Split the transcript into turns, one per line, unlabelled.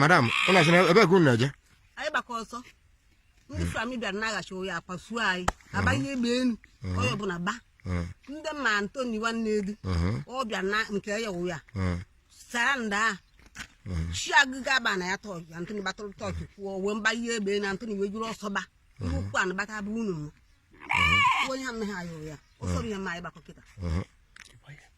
madam ụlọ asị na ebe ka unu na-eje anyị gbakọ ọsọ ndị army bịara na-achụ anyị akpasuo anyị agbanye egbe enu onye ọbụla gba Mm, ndị ma antoni nwanne elu mhm, ọ bịa na nke ya wụ ya mm, sara nda a chi agụga aba na ya tọọkị antoni gbatụrụ tọọkị kwụọ wee gbanye egbe na antoni wee jiri ọsọ gba ihe ukwu anụ gbata bụ unu mụ onye anaghị ayọ ya ọsọ bụ ihe ma anyị gbakọ kịta mhm.